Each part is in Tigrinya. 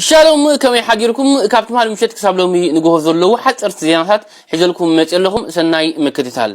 ሻሎም ከመይ ሓዲርኩም ካብ ትማሊ ምሸት ክሳብ ሎሚ ንግሆ ዘለዉ ሓጸርቲ ዜናታት ሒዘልኩም መጺ ኣለኹም ሰናይ ምክትታል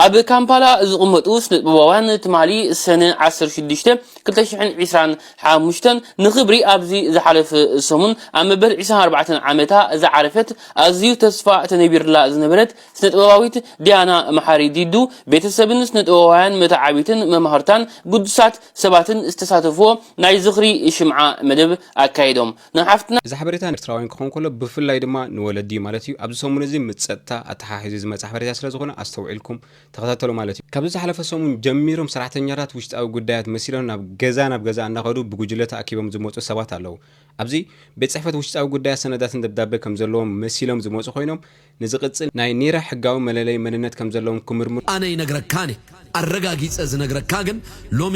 ኣብ ካምፓላ ዝቕመጡ ስነጥበባውያን ትማሊ ሰነ ዓሰርተ ሽዱሽተ ክልተ ሽሕን ዒስራን ሓሙሽተን ንኽብሪ ኣብዚ ዝሓለፈ ሰሙን ኣብ መበል ዒስራን ኣርባዕተን ዓመታ ዝዓረፈት ኣዝዩ ተስፋ ተነቢርላ ዝነበረት ስነጥበባዊት ዲያና መሓሪ ዲዱ፣ ቤተሰብን ስነጥበባውያን መተዓብይትን መማህርታን ግዱሳት ሰባትን ዝተሳተፍዎ ናይ ዝኽሪ ሽምዓ መደብ ኣካይዶም። ንሓፍትና። እዚ ሓበሬታ ንኤርትራውያን ክኸውን ከሎ ብፍላይ ድማ ንወለዲ እዩ ማለት እዩ። ኣብዚ ሰሙን እዚ ምስ ጸጥታ ኣተሓሒዙ ዝመጸ ሓበሬታ ስለ ዝኾነ ኣስተውዒልኩም ተኸታተሉ ማለት እዩ። ካብዚ ዝሓለፈ ሰሙን ጀሚሮም ሰራሕተኛታት ውሽጣዊ ጉዳያት መሲሎም ናብ ገዛ ናብ ገዛ እናኸዱ ብጉጅለ ተኣኪቦም ዝመጹ ሰባት ኣለዉ። ኣብዚ ቤት ጽሕፈት ውሽጣዊ ጉዳያት ሰነዳትን ደብዳበ ከም ዘለዎም መሲሎም ዝመጹ ኮይኖም ንዝቕጽል ናይ ኒረ ሕጋዊ መለለዪ መንነት ከም ዘለዎም ክምርምሩ። ኣነ ይነግረካን እየ ኣረጋጊጸ ዝነግረካ ግን ሎሚ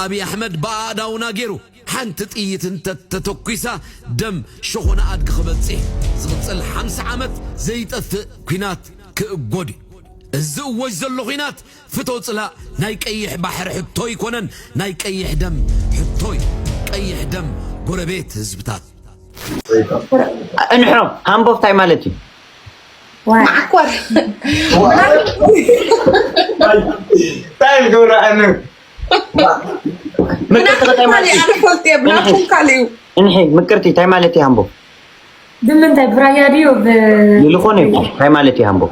ኣብይ ኣሕመድ ብኣእዳውና ጌሩ ሓንቲ ጥይት እንተ ተተኩሳ ደም ሸኾና ኣድጊ ክበጽ እየ ዝቕጽል ሓምሳ ዓመት ዘይጠፍእ ኩናት ክእጎድ እዩ እዚ እወጅ ዘሎ ኩናት ፍቶ ጽላእ ናይ ቀይሕ ባሕሪ ሕቶ ኣይኮነን ናይ ቀይሕ ደም ሕቶ እዩ ቀይሕ ደም ጎረቤት ህዝብታት። እንሖ ሃምቦብ ታይ ማለት እዩ? ማዓኮር ታይ ዝገብራ ኣነ ምቅርቲ ታይ ማለት እዩ? እንሒ ምቅርቲ ታይ ማለት እዩ ሃምቦብ? ብምንታይ ብራያ ድዩ ብ ዝኾነ ይኹን ታይ ማለት እዩ ሃምቦብ?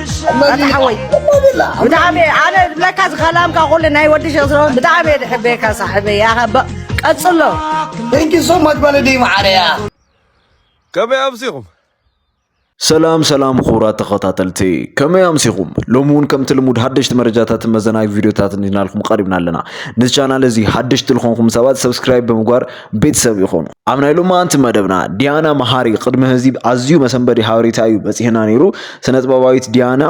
ኣታ ሓወይ ብጣዕሚ ኣነ ዝብለካ ዝኸላምካ ኩሉ ናይ ወዲ ሸክ ስለሆን ብጣዕሚ እየ ዝሕበየካ ሳሕበይ ያኸ ቀፅሎ ንኪ ሶ መግበሊ ድዩ መዓረያ ከመይ ኣብሲኹም ሰላም ሰላም ክቡራት ተኸታተልቲ ከመይ ኣምሲኹም ሎሚ እውን ከምቲ ልሙድ ሓደሽቲ መረጃታትን መዘናጊ ቪድዮታትን ይናልኩም ቀሪብና ኣለና ነዚ ቻናል እዚ ሓደሽቲ ዝኾንኩም ሰባት ሰብስክራይብ ብምግባር ቤተሰብ ይኾኑ። ኣብ ናይ ሎማንቲ መደብና ዲያና መሃሪ ቅድሚ ህዚ ኣዝዩ መሰንበዲ ሃበሬታ እዩ በፂሕና ነይሩ። ስነጥበባዊት ዲያና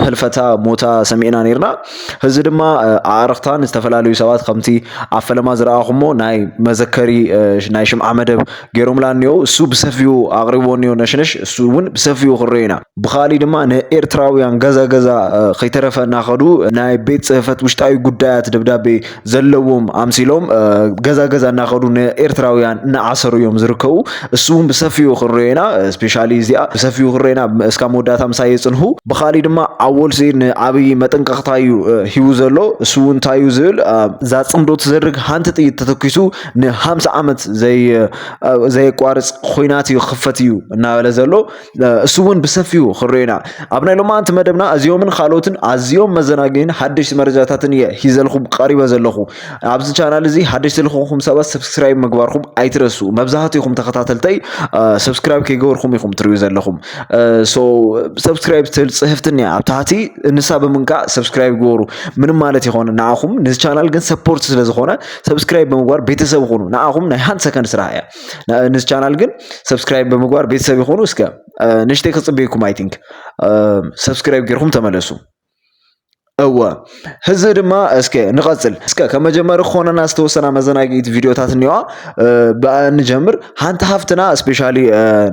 ህልፈታ ሞታ ሰሚዕና ነይርና። ህዚ ድማ ኣዕርኽታን ዝተፈላለዩ ሰባት ከምቲ ኣብ ፈለማ ዝረኣኹሞ ናይ መዘከሪ ናይ ሽምዓ መደብ ገይሮምላ እኒኦ እሱ ብሰፊኡ ኣቕሪቦ እኒኦ ነሽነሽ እሱ እውን ብሰፊኡ ክንሪኦ ኢና። ብኻሊእ ድማ ንኤርትራውያን ገዛ ገዛ ከይተረፈ እናኸዱ ናይ ቤት ፅህፈት ውሽጣዊ ጉዳያት ደብዳቤ ዘለዎም ኣምሲሎም ገዛ ገዛ እናኸዱ ንኤርትራውያን እናዓሰሩ እዮም ዝርከቡ እሱ እውን ብሰፊኡ ክንሪኦ ኢና ስፔሻሊ እዚኣ ብሰፊኡ ክንሪኦ ኢና እስካብ መወዳእታ ምሳይ የፅንሑ ብካሊእ ድማ ኣወል ስዒድ ንኣብይ መጠንቀቕታ እዩ ሂቡ ዘሎ እሱ እውን እንታይ እዩ ዝብል እዛ ፅምዶ ትዘርግ ሃንቲ ጥይት ተተኪሱ ን50 ዓመት ዘይ ዘየቋርፅ ኹናት እዩ ክኽፈት እዩ እናበለ ዘሎ እሱ እውን ብሰፊኡ ክንሪኦ ኢና ኣብ ናይ ሎማንቲ መደብና እዚኦምን ካልኦትን ኣዝዮም መዘናግይን ሓደሽቲ መረጃታትን እየ ሂዘልኩም ቀሪበ ዘለኹ ኣብዚ ቻናል እዚ ሓደሽቲ ልኾንኩም ሰባት ሰብስክራይብ ምግባርኩም ኣይትረሱ መብዛሕትኹም ተኸታተልተይ ሰብስክራይብ ከይገበርኩም ኢኹም ትሪኡ ዘለኹም ሶ ሰብስክራይብ ትብል ፅህፍትን እያ ኣብ ታሕቲ እንሳ ብምንካእ ሰብስክራይብ ግበሩ ምንም ማለት ይኾነ ንዓኹም ነዚ ቻናል ግን ሰፖርት ስለዝኾነ ሰብስክራይብ ብምግባር ቤተሰብ ኹኑ ንዓኹም ናይ ሃንድ ሰከንድ ስራሕ እያ ንዚ ቻናል ግን ሰብስክራይብ ብምግባር ቤተሰብ ይኹኑ እስከ ንሽተይ ክፅበይኩም ኣይ ቲንክ ሰብስክራይብ ጌርኩም ተመለሱ እወ ህዚ ድማ እስከ ንቐፅል እስከ ከም መጀመሪ ክኾነና ዝተወሰና መዘናጊት ቪዲዮታት እኒዋ ብኣ ንጀምር ሓንቲ ሃፍትና ስፔሻሊ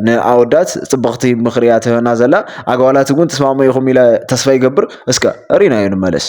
ንኣወዳት ፅብቕቲ ምኽሪ እያ ትህበና ዘላ ኣጓላት እውን ትስማሙ ኢኹም ኢለ ተስፋ ይገብር እስከ ሪናዮ ንመለስ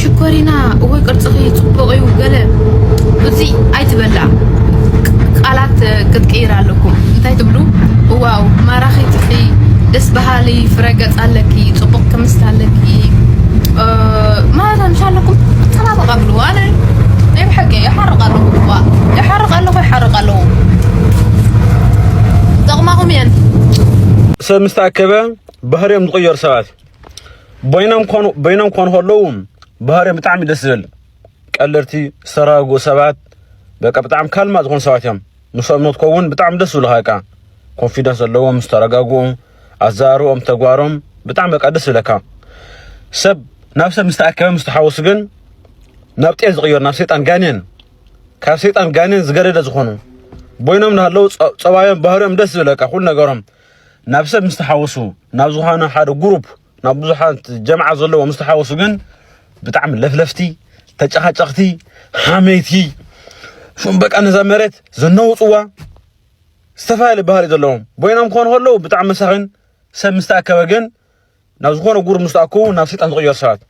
ሽኮሪና እወ ቅርፅኺ ፅቡቕ እዩ ገለ ብዙይ ኣይትበላ ቃላት ክትቅይር ኣለኩም እንታይ ትብሉ እዋው ማራኺ ትኺ ደስ በሃሊ ፍረ ገፅ ኣለኪ ፅቡቕ ክምስት ኣለኪ ማለት ኣምሻ ኣለኩም ተናበቃ ብሉ ኣነ ናይ ብሓቂ ይሓርቕ ኣለኹ እዋ ይሓርቕ ኣለኹ ይሓርቕ ኣለኹ ጠቕማኹም እየን ሰብ ምስ ተኣከበ ባህርዮም ዝቕየሩ ሰባት በይኖም ኮኑ በይኖም ኮኑ ከለዉ ባህሪኦም ብጣዕሚ ደስ ዝብል ቀለርቲ ዝተረጋጉ ሰባት በቃ ብጣዕሚ ካልማ ዝኾኑ ሰባት እዮም ምስኦም ንክትከውን ብጣዕሚ ደስ ዝብልካ በቃ ኮንፊደንስ ዘለዎም ዝተረጋጉ ኣዛርቦም ተግባሮም ብጣዕሚ በቃ ደስ ዝብለካ ሰብ ናብ ሰብ ምስ ተኣከበ ምስ ተሓወሱ ግን ናብ ጤል ዝቕየሩ ናብ ሰይጣን ጋኔን ካብ ሰይጣን ጋኔን ዝገደደ ዝኾኑ ቦይኖም ናሃለዉ ፀባዮም ባህሪኦም ደስ ዝብለካ ኩሉ ነገሮም ናብ ሰብ ምስ ተሓወሱ ናብ ዝኾነ ሓደ ግሩፕ ናብ ብዙሓት ጀምዓ ዘለዎ ምስ ተሓወሱ ግን ብጣዕሚ ለፍለፍቲ ተጨኻጨኽቲ ሓመይቲ ሹም በቃ ነዛ መሬት ዘነውፅዋ ዝተፈላለየ ባህሪ ዘለዎም ቦይኖም ክኾኑ ከለዉ ብጣዕሚ መሳኺን ሰብ ምስ ተኣከበ ግን ናብ ዝኾነ ጉር ምስ ተኣከቡ ናብ ሰይጣን ዝቕየሩ ሰባት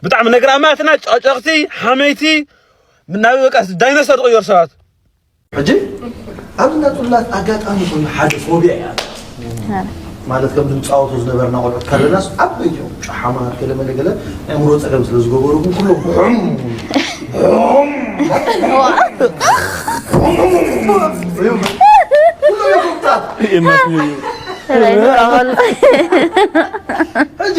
ብጣዕሚ ነገራማትና ጨጨቕቲ ሓመይቲ ናብ በቃ ዳይኖሰር ዝቕየሩ ሰባት ሕጂ ኣብዚ ናይ ጽላት ኣጋጣሚ ኮይኑ ሓደ ፎብያ እያ ማለት ከም ድምፃወቱ ዝነበርና ቆልዑት ካለናስ ዓበይቲ እዮም ጨሓማት ገለ መለ ገለ ናይ ኣእምሮ ፀገም ስለ ዝገበሩኩም ኩሎም ሕጂ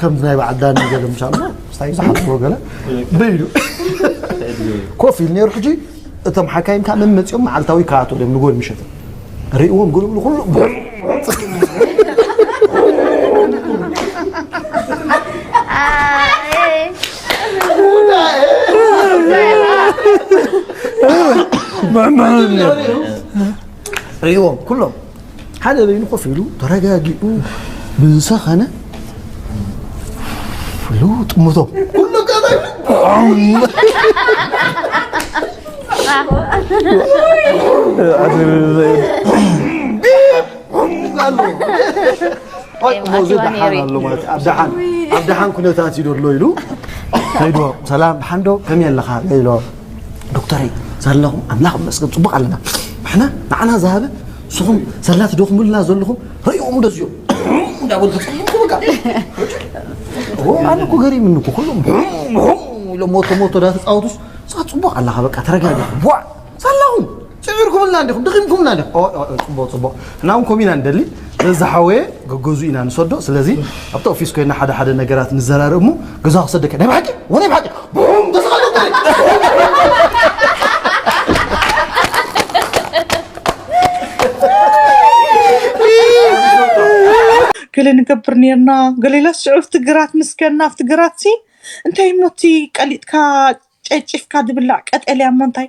ከምዚ ናይ በዓል ዳኒ ገለ ምስ ኣሎ ምስታይ ዝሓልዎ ገለ ብኢሉ ኮፍ ኢሉ ነይሩ ሕጂ እቶም ሓካይም ከዓ መመፂኦም መዓልታዊ ይከታተሉ እዮም ንጎል ምሸት ርእዎም ግልብሉ ኩሉ ርእዎም ኩሎም ሓደ በይኑ ኮፍ ኢሉ ተረጋጊኡ ብዝሰኸነ ፍሉ ጥምቶ ኩሉ ሞዚ ደሓን ኣሎ ማለት ኣብ ደሓን ኣብ ደሓን ኩነታት እዩ ደሎ ኢሉ ከይዶ ሰላም ደሓን ዶ ከመይ ኣለኻ ኢሎ ዶክተረይ ዘለኹም ኣምላኽ ይመስገን ፅቡቕ ኣለና ንሕና ንዓና ዝሃበ ንስኹም ሰላ ትደኽሙልና ዘለኹም ረእኦም እንደዚዮ እንዳበሉ ተፅቡቑ በቃ ኣነ እኮ ገሪምኒ እኮ ኩሎም ኢሎም ሞቶ ሞቶ ዳተፃወቱስ እዛ ፅቡቕ ኣለኻ በቃ ተረጋጊ ቧዕ ሳላኹም ጽዒርኩምልና እንዲኹም ድኺምኩምና እንዲኹም ኦይ ኦይ ኦይ ጽቡቕ ጽቡቕ ንሕና እውን ከምኡ ኢና ንደሊ ስለዚ ዝሓወየ ገገዝኡ ኢና ንሰዶ ስለዚ ኣብቲ ኦፊስ ኮይና ሓደ ሓደ ነገራት ንዘራርእ እሞ ገዛ ክሰደካ ናይ ብሓቂ ወናይ ብሓቂ ቡም ገለ ንገብር ነርና ገሌላ ስዑፍ ትግራት ምስከና ኣብ ትግራትሲ እንታይ ሞቲ ቀሊጥካ ጨጭፍካ ዝብላዕ ቀጠልያ እሞ እንታይ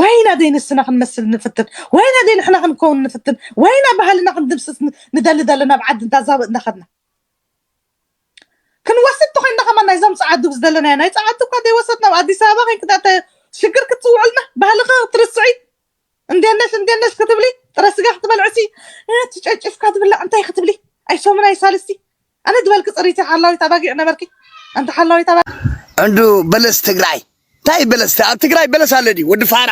ወይና ደይ ንስና ክንመስል ንፍትን ወይና ደይ ንሕና ክንከውን ንፍትን ወይና ባህልና ክንድምስስ ንደሊ ዘለና ኣብ ዓዲ እንዳ ዛብእ እንዳኸድና ክንወስድ ተኾይንና ከማን ናይዞም ጸዓዱ ዝደለናዮ ናይ ጸዓዱ እኳ ደይወሰድና ኣብ ኣዲስ ኣበባ ኮይንኪ ዳእተ ሽግር ክትጽውዕልና ባህልኺ ክትርስዒ እንዴነሽ እንዴነሽ ክትብሊ ጥረ ስጋ ክትበልዕሲ ትጨጭፍካ ትብላዕ እንታይ ክትብሊ ኣይሶምን ኣይሳልስቲ ኣነ ዝበልኪ ፅሪቲ ሓላዊት ኣባጊዕ ነበርኪ ኣንቲ ሓላዊት ኣባጊዕ። እንዶ በለስ ትግራይ እንታይ እዩ በለስ ኣብ ትግራይ በለስ ኣሎ ድዩ ወዲ ፋራ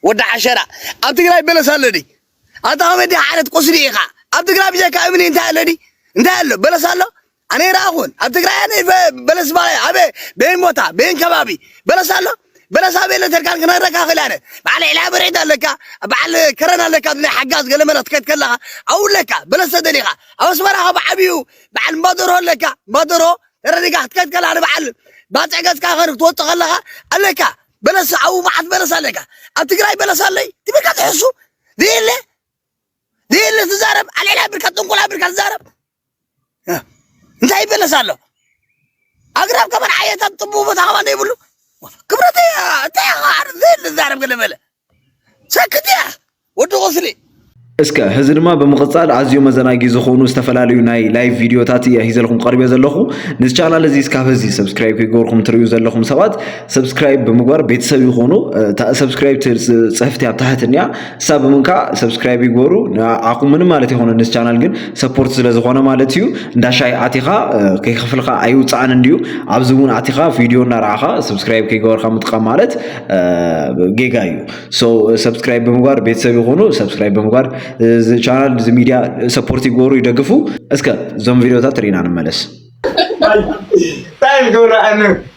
ወዲ ዓሸራ ኣብ ትግራይ በለስ ኣሎ ድዩ ኣታ ኮሜዲ ሓረት ቁስሊ ኢኻ ኣብ ትግራይ ብጀካ እምኒ እንታይ ኣሎ ድዩ እንታይ ኣሎ በለስ ኣሎ ኣነ ይረኣኹን ኣብ ትግራይ ኣነ በለስ ባለ ኣበ በየን ቦታ በየን ከባቢ በለስ ኣሎ በለሳ ቤለ ተርካን ክነረካ ክእል ኣነ በዓል ዕላ ብርዒት ኣለካ በዓል ከረን ኣለካ ናይ ሓጋዝ ገለመለ ክትከድ ከለካ ኣብኡ ኣለካ በለስ ተደሊካ ኣብ ኣስመራ ካብ ዓብዩ በዓል እምባደሮ ኣለካ እምባደሮ ተረዲካ ክትከድ ከለካ ንበዓል ባፅዕ ገፅካ ከር ክትወፅ ከለካ ኣለካ በለስ ኣብኡ መዓት በለስ ኣለካ ኣብ ትግራይ በለስ ኣለይ ትብልካ ትሕሱ ዘየለ ዘየለ ትዛረብ ኣልዕላ ብርካ ጥንቁላ ብርካ ትዛረብ እንታይ ይበለስ ኣሎ ኣግራብ ከመን ዓየታት ጥቡቅ ቦታ ከማ ዘይብሉ ክብረት እንታይ ዓር ዘይል ዛረብ ገለ በለ ሰክት እያ ወዲ ቁስሊ እስከ ህዚ ድማ ብምቕጻል ኣዝዮ መዘናጊ ዝኾኑ ዝተፈላለዩ ናይ ላይቭ ቪድዮታት እየ ሂዘልኩም ቀርበ ዘለኹ ነዚ ቻናል እዚ እስካብ ህዚ ሰብስክራይብ ከይገበርኩም ትርእዩ ዘለኹም ሰባት ሰብስክራይብ ብምግባር ቤተሰብ ይኾኑ ሰብስክራይብ ፅሕፍቲ ኣብ ታሕትንያ ሓሳብ እውን ከዓ ሰብስክራይብ ይግበሩ ንዓኹም ምንም ማለት ይኮነ ነዚ ቻናል ግን ሰፖርት ስለ ዝኾነ ማለት እዩ እንዳ ሻይ ኣቲኻ ከይከፍልካ ኣይውፃእን እንድዩ ኣብዚ እውን ኣቲኻ ቪድዮ እናረኣኻ ሰብስክራይብ ከይገበርካ ምጥቃም ማለት ጌጋ እዩ ሶ ሰብስክራይብ ብምግባር ቤተሰብ ይኾኑ ሰብስክራይብ ብምግባር እዚ ቻናል እዚ ሚዲያ ሰፖርት ይግበሩ ይደግፉ እስከ እዞም ቪዲዮታት ርኢና ንመለስ ታይ ገብረ ኣነ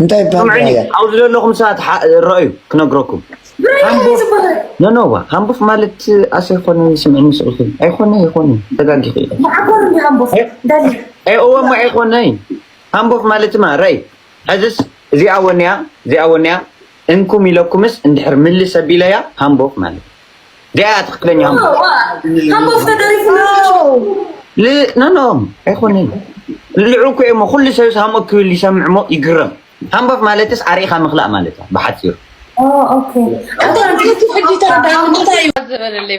እንታይ ይበሃል ስምዑኒ ራያ ኣብዚ ዘለኹም ሰባት ሓ- ረኣዩ ክነግረኩም ብረያ ሃምቦ እዩ ዝበሃል ነነዋ ሃምቡፍ ማለት ኣሰ ይኮነ ስምዕኒ ስቕልኪ ኣይኮነ ይኮነ ተጋጊኺ ኢኺ መዓኮር እንዲ ሃምቦፍ ዳሊ ኤ እወ እሞ ኣይኮነይ ሃምቦፍ ማለት ማ ረይ ሕዝስ እዚኣ ወንያ እዚኣ ወንያ እንኩም ኢለኩምስ እንድሕር ምልስ ኣቢለያ ሃምቦፍ ማለት ዲያ ትክክለኛ ኖኖ ኣይኮነን ልዑ ኮ እሞ ኩሉ ሰብ ሃምኦ ክብል ይሰምዕ እሞ ይግረም ሃምቦፍ ማለትስ ኣርኢኻ ምኽላእ ማለት እያ ብሓፂሩ ዝበለለይ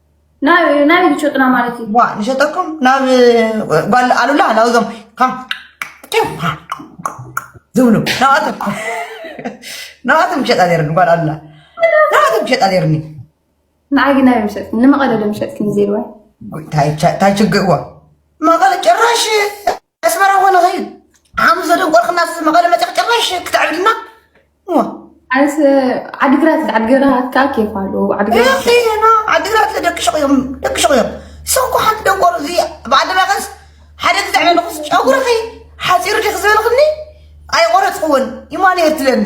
ናይ ሸጥና ማለት እዩ ዋ ንሸጠኩም ናብ ጓል ኣሉላ ናብዞም ዝብሉ ናባቶም ናባቶም ክሸጣ ነርኒ ጓል ኣሉላ ናባቶም ክሸጣ ነርኒ ንዓይ ግን ናበይ ምሸጥኒ ንመቐለ ዶ ምሸጥክኒ ዘይዋ ታይ ችግር ዋ መቐለ ጭራሽ ኣስመራ እኮ ንኸይድ ሓሙስ ዘደንቆርክና መቐለ መፅዕ ጭራሽ ክትዕብድና ኣንስ ዓዲግራት ዓዲግራት ከዓ ኬፍ ኣሎ ዓዲግራት ዓዲግራት ደቂ ሸቕ እዮም ደቂ ሸቕ እዮም ሰብኮ ሓንቲ ደንቆሮ እዚ ብኣደባቀስ ሓደ ግዛዕ መልኹስ ጨጉርኺ ሓፂሩ ዲኺ ዝበልኽኒ ኣይቆረፅክዎን ይማን እየ ትለኒ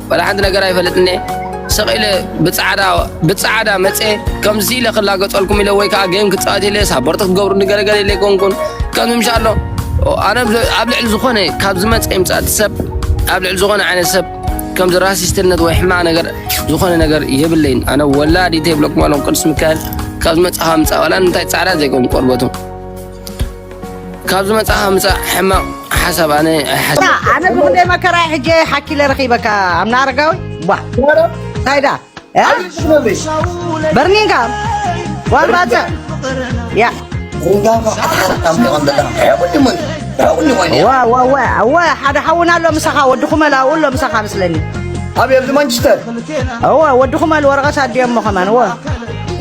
ዋላ ሓንቲ ነገር ኣይፈልጥን እየ ስቕ ኢለ ብፃዕዳ ብፃዕዳ መፀ ከምዚ ኢለ ክላገፀልኩም ኢለ ወይ ከዓ ጌም ክፃወት ኢለ ሳፖርት ክትገብሩኒ ገለገለ ኢለ ኮንኩን ከምዚ ምሻ ኣሎ ኣነ ኣብ ልዕሊ ዝኾነ ካብ ዝመፀ ይምፃእ እቲ ሰብ ኣብ ልዕሊ ዝኾነ ዓይነት ሰብ ከምዚ ራሲስትነት ወይ ሕማቕ ነገር ዝኾነ ነገር የብለይን ኣነ ወላዲተ ይብለኩም ኣለኹ ቅዱስ ሚካኤል ካብ ዝመፅኻ ምፃእ ዋላ እንታይ ፃዕዳ ዘይኮን ቆርበቱ ካብ ዝመጽኣ ምጻእ ሕማቕ ሓሳብ ኣነ ኣይሓስብ ኣነ ብክንደይ መከራ ሕጂ ሓኪለ ረኺበካ ኣምና ኣረጋዊ ዋ እንታይ ዳ በርኒንካ ዋን ባጽዕ ያ ዋ ዋ ዋ እወ ሓደ ሓውና ኣሎ ምሳኻ ወዲ ኩመል ኣብኡ ኣሎ ምሳኻ ምስለኒ ኣብ የብዚ ማንቸስተር እወ ወዲ ኩመል ወረቐት ኣዲኦሞ ከማን እወ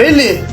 ሪሊ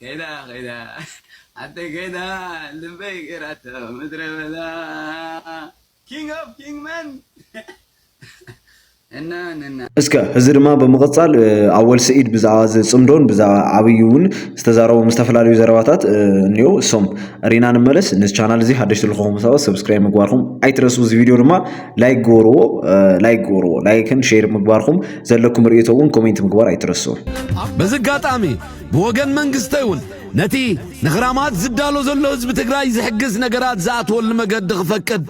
ከይዳ ከይዳ ሓፍተይ ከይዳ ልበይ ገይራቶ ምድረ በዳ ኪንግ ኦፍ ኪንግ መን እስከ እዚ ድማ ብምቕፃል ኣወል ስዒድ ብዛዕባ እዚ ፅምዶን ብዛዕባ ዓብዪ እውን ዝተዛረቦም ዝተፈላለዩ ዘረባታት እኒኦ እሶም ሪና ንመለስ ነዚ ቻናል እዚ ሓደሽቲ ልኾኹም ሰባት ሰብስክራይብ ምግባርኩም ኣይትረሱ እዚ ቪድዮ ድማ ላይክ ግበርዎ ላይክ ግበርዎ ላይክን ሼር ምግባርኩም ዘለኩም ርእቶ እውን ኮሜንት ምግባር ኣይትረስዑ። በዚ ኣጋጣሚ ብወገን መንግስቲ እውን ነቲ ንኽራማት ዝዳሎ ዘሎ ህዝቢ ትግራይ ዝሕግዝ ነገራት ዝኣትወሉ መገዲ ክፈቅድ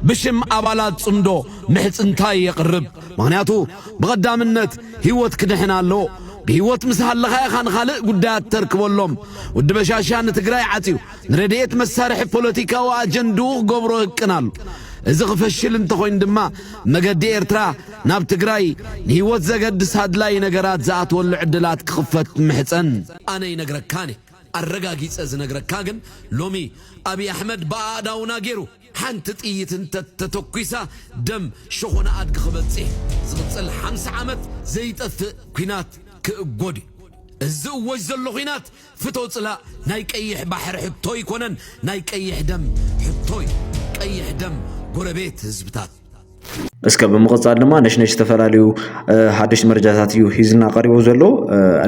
ብሽም ኣባላት ጽምዶ ምሕጽንታይ የቕርብ። ምኽንያቱ ብቐዳምነት ህይወት ክድሕን ኣለዎ። ብህይወት ምስ ሃለኻ ኢኻ ንኻልእ ጉዳያት ተርክበሎም። ወዲ በሻሻ ንትግራይ ዓጽዩ ንረድኤት መሳርሒ ፖለቲካዊ ኣጀንድኡ ክገብሮ ህቅን ኣሎ። እዚ ክፈሽል እንተኾይኑ ድማ መገዲ ኤርትራ ናብ ትግራይ ንህይወት ዘገድስ ኣድላዪ ነገራት ዝኣትወሉ ዕድላት ክኽፈት እምሕጸን። ኣነ ይነግረካን እየ ኣረጋጊጸ ዝነግረካ ግን ሎሚ ኣብይ ኣሕመድ ብኣእዳውና ጌሩ ሓንቲ ጥይት እንተ ተተኩሳ ደም ሸኾና ኣድጊ ክበጽ እየ። ዝቕጽል ሓምሳ ዓመት ዘይጠፍእ ኩናት ክእጎድ እዩ። እዚ ዝእወጅ ዘሎ ኩናት ፍቶ ጽላእ ናይ ቀይሕ ባሕሪ ሕቶ ኣይኮነን ናይ ቀይሕ ደም ሕቶ እዩ ቀይሕ ደም ጎረቤት ህዝብታት። እስከ ብምቕጻል ድማ ነሽነሽ ዝተፈላለዩ ሓደሽቲ መረጃታት እዩ ሂዝና ቀሪቡ ዘሎ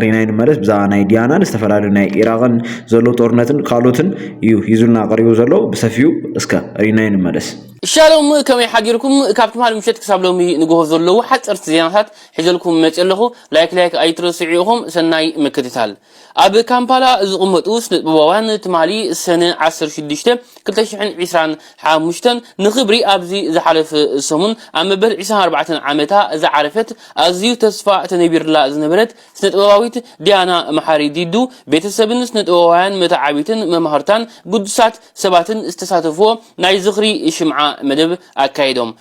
ሪናይ ንመለስ ብዛዕባ ናይ ዲያናን ዝተፈላለዩ ናይ ኢራቕን ዘሎ ጦርነትን ካልኦትን እዩ ሂዙልና ቀሪቡ ዘሎ ብሰፊኡ እስከ ሪናይ ንመለስ ሻሎም ከመይ ሓዲርኩም ካብ ትምሃል ምሸት ክሳብ ሎሚ ንግሆ ዘለዉ ሓፀርቲ ዜናታት ሒዘልኩም መፂ ኣለኹ ላይክ ላይክ ኣይትረስዑ ኢኹም ሰናይ ምክትታል ኣብ ካምፓላ ዝቕመጡ ስነጥበባውያን ትማሊ ሰነ ዓሰርተ ሽዱሽተ ክልተ ሽሕን ዒስራን ሓሙሽተን ንኽብሪ ኣብዚ ዝሓለፈ ሰሙን ኣብ መበል ዒስራን ኣርባዕተን ዓመታ ዝዓረፈት ኣዝዩ ተስፋ ተነቢርላ ዝነበረት ስነጥበባዊት ዲያና መሓሪ ዲዱ ቤተሰብን ስነጥበባውያን መተዓብይትን መማህርታን ግዱሳት ሰባትን ዝተሳተፍዎ ናይ ዝኽሪ ሽምዓ መደብ ኣካይዶም።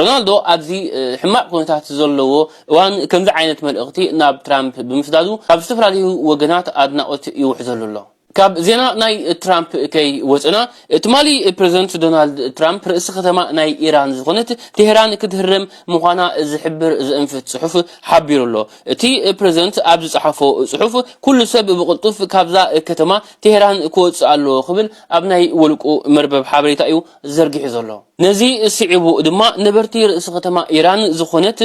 ሮናልዶ ኣብዚ ሕማቕ ኩነታት ዘለዎ እዋን ከምዚ ዓይነት መልእኽቲ ናብ ትራምፕ ብምስዳዱ ካብ ዝተፈላለዩ ወገናት ኣድናቖት ይውሕዘሉ ኣሎ። ካብ ዜና ናይ ትራምፕ ከይወጸና፣ ትማሊ ፕረዚደንት ዶናልድ ትራምፕ ርእሲ ከተማ ናይ ኢራን ዝኾነት ቴህራን ክትህረም ምዃና ዝሕብር ዘእንፍት ጽሑፍ ሓቢሩ ኣሎ። እቲ ፕረዚደንት ኣብ ዝጸሓፎ ጽሑፍ፣ ኩሉ ሰብ ብቕልጡፍ ካብዛ ከተማ ቴህራን ክወጽእ ኣለዎ ክብል ኣብ ናይ ውልቁ መርበብ ሓበሬታ'ዩ ዘርጊሑ ዘሎ። ነዚ ስዒቡ ድማ ነበርቲ ርእሲ ከተማ ኢራን ዝኾነት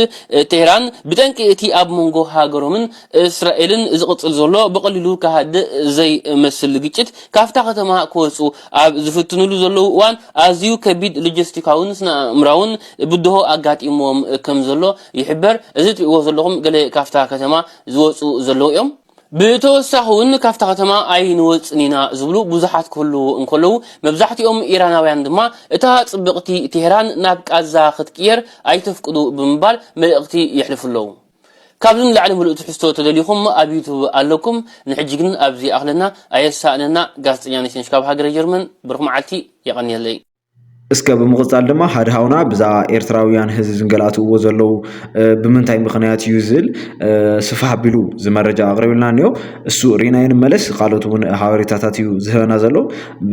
ቴህራን ብጠንቂ እቲ ኣብ መንጎ ሃገሮምን እስራኤልን ዝቕጽል ዘሎ ብቐሊሉ ክሃድእ ዘይመስል ግጭት ካብታ ከተማ ክወጽኡ ኣብ ዝፍትኑሉ ዘለዉ እዋን ኣዝዩ ከቢድ ሎጀስቲካውን ስነኣእምራውን ብድሆ ኣጋጢምዎም ከምዘሎ ይሕበር። እዚ ትርእይዎ ዘለኹም ገለ ካብታ ከተማ ዝወጽኡ ዘለዉ እዮም። ብተወሳኺ'ውን ካብታ ከተማ ኣይንወጽን ኢና ዝብሉ ብዙሓት ክህልዉ እንከለዉ፣ መብዛሕትኦም ኢራናውያን ድማ እታ ጽብቕቲ ቴህራን ናብ ቃዛ ክትቅየር ኣይተፍቅዱ ብምባል መልእኽቲ የሕልፉ ኣለዉ። ካብዚ ንላዕሊ ምሉእ ትሕዝቶ ተደሊኹም ኣብ ዩቱብ ኣለኩም ንሕጂ ግን ኣብዚ ይኣኽለና ኣየሳእነና ጋዜጠኛ ነሽነሽ ካብ ሃገረ ጀርመን ብሩኽ መዓልቲ የቐንየለይ። እስከ ብምቕጻል ድማ ሓደ ሃውና ብዛዕባ ኤርትራውያን ህዝቢ ዝንገላትዎ ዘለዉ ብምንታይ ምኽንያት እዩ ዝብል ስፍሕ ኣቢሉ ዝመረጃ ኣቕሪብልና እኒኦ እሱ ሪናዮ ንመለስ ካልኦት እውን ሓበሬታታት እዩ ዝህበና ዘሎ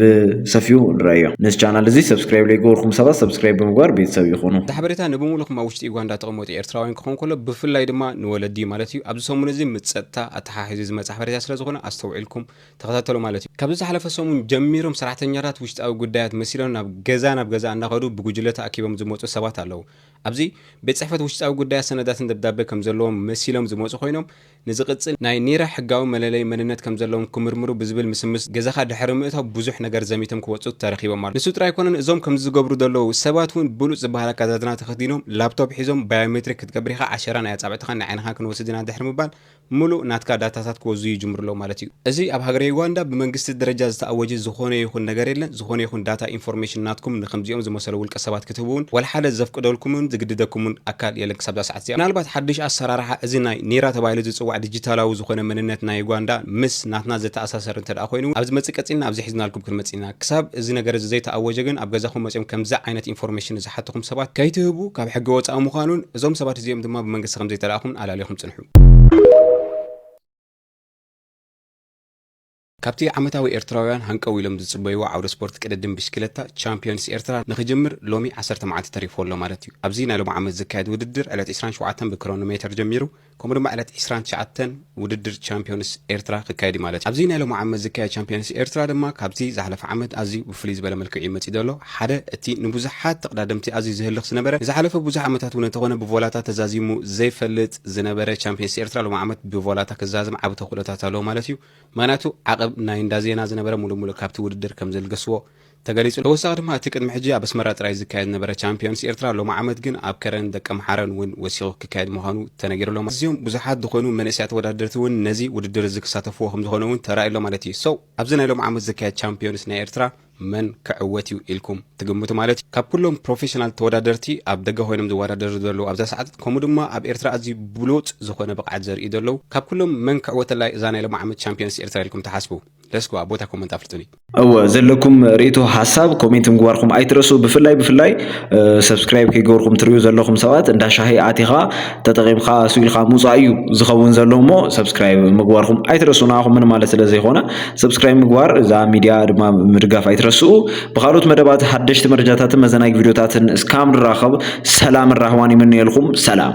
ብሰፊኡ ንረአዮ ነዚ ቻናል እዚ ሰብስክራይብ ለይገበርኩም ሰባት ሰብስክራይብ ብምግባር ቤተሰብ ይኹኑ እቲ ሓበሬታ ንብሙሉኹም ኣብ ውሽጢ ዩጋንዳ ተቐመጡ ኤርትራውያን ክኸውን ከሎ ብፍላይ ድማ ንወለዲ ማለት እዩ ኣብዚ ሰሙን እዚ ምስ ጸጥታ ኣተሓሒዙ ዝመጽ ሓበሬታ ስለዝኾነ ኣስተውዒልኩም ተኸታተሉ ማለት እዩ። ካብዚ ዝሓለፈ ሰሙን ጀሚሮም ሰራሕተኛታት ውሽጣዊ ጉዳያት መሲሎም ናብ ገዛ ናብ ገዛ እናኸዱ ብጉጅለ ተኣኪቦም ዝመፁ ሰባት ኣለው። ኣብዚ ቤት ፅሕፈት ውሽጣዊ ጉዳያት ሰነዳትን ደብዳበ ከምዘለዎም መሲሎም ዝመፁ ኮይኖም ንዝቕፅል ናይ ኒራ ሕጋዊ መለለዪ መንነት ከምዘለዎም ክምርምሩ ብዝብል ምስምስ ገዛኻ ድሕሪ ምእታው ብዙሕ ነገር ዘሚቶም ክወፁ ተረኺቦም ኣለው። ንሱ ጥራይ ኣይኮነን እዞም ከምዚ ዝገብሩ ዘለው ሰባት እውን ብሉፅ ዝበሃል ኣከዳድና ተኸዲኖም ላፕቶፕ ሒዞም ባዮሜትሪክ ክትገብር ኢኻ ዓሸራን ኣይ ኣፃብዕትኻን ናይ ዓይንኻን ክንወስድ ኢና ድሕሪ ምባል ምሉእ ናትካ ዳታታት ክወዙ ይጅምሩ ኣለው ማለት እዩ። እዚ ኣብ ሃገረ ዩጋንዳ ብመንግስቲ ደረጃ ዝተኣወጀ ዝኾነ ይኹን ነገር የለን። ዝኾነ ይኹን ዳታ፣ ኢንፎርሜሽን፣ ናትኩም ንከምዚኦም ዝመሰሉ ውልቀ ሰባት ክትህቡ እውን ዋላ ሓደ ዘፍቅደልኩምን ዝግድደኩምን ኣካል የለን ክሳብ እዛ ሰዓት እዚኣ። ምናልባት ሓድሽ ኣሰራርሓ እዚ ናይ ኒራ ተባሂሉ ዝጽዋዕ ዲጂታላዊ ዝኾነ መንነት ናይ ዩጋንዳ ምስ ናትና ዘተኣሳሰር እንተድኣ ኮይኑ እውን ኣብ ዝመጽእ ቀጺልና ኣብዚ ሒዝናልኩም ክንመጽእ ኢና። ክሳብ እዚ ነገር እዚ ዘይተኣወጀ ግን ኣብ ገዛኹም መጺኦም ከምዚ ዓይነት ኢንፎርሜሽን ንዝሓቱኹም ሰባት ከይትህቡ ካብ ሕጊ ወጻኢ ምዃኑን እዞም ሰባት እዚኦም ድማ ብመንግስቲ ከምዘይተላእኹምን ኣላሊኹም ጽንሑ። ካብቲ ዓመታዊ ኤርትራውያን ሃንቀው ኢሎም ዝጽበይዎ ዓውደ ስፖርት ቅድድም ብሽክለታ ቻምፕዮንስ ኤርትራ ንክጅምር ሎሚ ዓሰርተ መዓልቲ ተሪፍዎ ኣሎ ማለት እዩ። ኣብዚ ናይ ሎሚ ዓመት ዝካየድ ውድድር ዕለት ዕስራን ሸውዓተን ብክሮኖ ሜተር ጀሚሩ ከምኡ ድማ ዕለት ዕስራን ትሽዓተን ውድድር ቻምፕዮንስ ኤርትራ ክካየድ እዩ ማለት እዩ። ኣብዚ ናይ ሎሚ ዓመት ዝካየድ ቻምፕዮንስ ኤርትራ ድማ ካብቲ ዝሓለፈ ዓመት ኣዝዩ ብፍልይ ዝበለ መልክዕ እዩ መጺኡ ዘሎ። ሓደ እቲ ንብዙሓት ተቕዳደምቲ ኣዝዩ ዘህልኽ ዝነበረ፣ ንዝሓለፈ ብዙሕ ዓመታት እውን እንተኾነ ብቮላታ ተዛዚሙ ዘይፈልጥ ዝነበረ ቻምፕየንስ ኤርትራ ሎሚ ዓመት ብቮላታ ክዛዘም ዓቢ ተኽእሎታት ኣለዎ ማለት እዩ። ምኽንያቱ ዓቕብ ናይ እንዳ ዜና ዝነበረ ሙሉእ ሙሉእ ካብቲ ውድድር ከምዘልገስዎ ተገሊጹ። ተወሳኺ ድማ እቲ ቅድሚ ሕጂ ኣብ ኣስመራ ጥራይ ዝካየድ ዝነበረ ቻምፕየንስ ኤርትራ ሎሚ ዓመት ግን ኣብ ከረን ደቀምሓረን እውን ወሲኹ ክካየድ ምዃኑ ተነጊሩ ኣሎ። ኣዝዮም ብዙሓት ዝኾኑ መንእሰያት ተወዳደርቲ እውን ነዚ ውድድር እዚ ክሳተፍዎ ከምዝኾነ እውን ተራእዩ ኣሎ ማለት እዩ። So ኣብዚ ናይ ሎሚ ዓመት ዝካየድ ቻምፕየንስ ናይ ኤርትራ መን ክዕወት እዩ ኢልኩም ትግምቱ ማለት እዩ? ካብ ኩሎም ፕሮፌሽናል ተወዳደርቲ ኣብ ደገ ኮይኖም ዝወዳደሩ ዘለዉ ኣብዛ ሰዓት ከምኡ ድማ ኣብ ኤርትራ ኣዝዩ ብሉጽ ዝኾነ ብቕዓት ዘርእዩ ዘለዉ ካብ ኩሎም መን ክዕወተላ እዩ እዛ ናይ ሎሚ ዓመት ቻምፕዮንስ ኤርትራ ኢልኩም ትሓስቡ? ለስኩ ኣብ ቦታ ኮመንት ኣፍልጡኒ። እወ ዘለኩም ሪኢቶ ሓሳብ ኮሜንት ምግባርኩም ኣይትረስኡ ብፍላይ ብፍላይ ሰብስክራይብ ከይገበርኩም ትሪኡ ዘለኹም ሰባት እንዳ ሻሂ ኣቲኻ ተጠቒምካ ስኢልካ ምውፃእ እዩ ዝኸውን ዘሎ እሞ ሰብስክራይብ ምግባርኩም ኣይትረስኡ ንኣኹም ምን ማለት ስለ ዘይኮነ ሰብስክራይብ ምግባር እዛ ሚድያ ድማ ምድጋፍ ኣይትረስኡ ብካልኦት መደባት ሓደሽቲ መረጃታትን መዘናጊ ቪድዮታትን እስካብ ንራኸብ ሰላምን ራህዋን ይምነየልኩም ሰላም